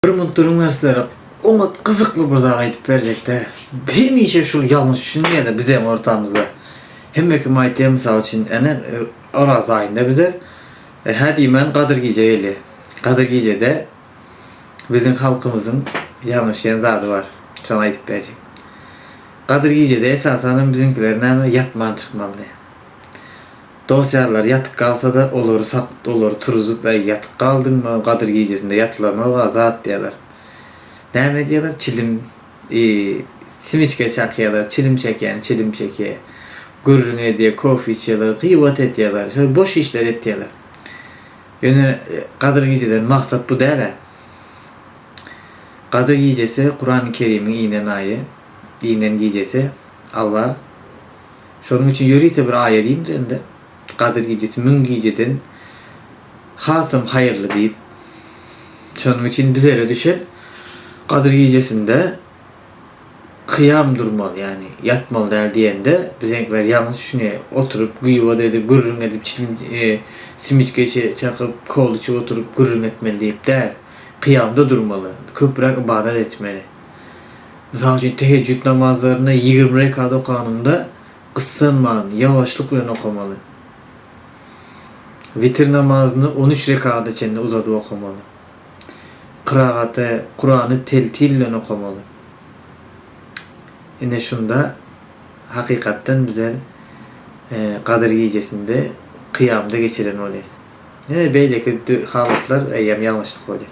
Bir munt duruň men sizlere oňat gyzykly bir zat aýdyp berjekde. Hemişe şul ýalňyş düşünýärler bizeň ortamyzda. Hemme kim aýtýar mysal üçin ene oraz aýynda bize e, hä diýmän gadyr gije gelýär. Gadyr gijede biziň halkymyzyň ýalňyşýan zady bar. Şony aýdyp berjek. Gadyr gijede esasanam biziňkiler näme ýatman çykmaly. Dos-ýarlary ýatyk galsa-da, olary sap, olary turuzyp, Äý, ýatyk galdyňmy, Gadyr gijesinde ýatylanoga zat diýerler. Näme edýärler? Çilim, i, simiçka çakýarlar, çilim çekýän çilim çekýär. Gürrüň edýär, kofe içýärler, gybat edýärler, şeýle boş işleri etýärler. Ýöne Gadyr gijeden maksat bu däl-ä. Gadyr gijesi, Kurany Kerimiň inen aýy, inen gijesi. Alla. Şonuň üçin ýörite bir aýa giňdir indi. Gadyr gijesi müň gijeden hasam haýyrly diýip. Şonuň üçin bizere düşen Gadyr gijesinde kyýam durmaly, ýagny ýatmaly däl diýende, bizeňkiler ýalňyş düşünýär. Oturyp, gyýbat edip, gürrüň edip, çilim, simiçka içe çakyp, kola içip oturyp gürrüň etmeli diýip däl. Kyýamda durmaly. Köpräk ybadat etmeli. Mysal üçin, teheccüd namazlaryny ýigrimi rekat okanymda gyssanman, ýawaşlyk bilen okamaly. Witir namazyny on üç rekada çenli uzadyp okamaly. Kyragaty, Kurany teltil bilen okamaly. Ine şunda hakykatdan bizler Gadyr gijesinde kyýamda geçiren bolýarys. Ýene beýleki halatlar eýýäm ýalňyşlyk bolýar.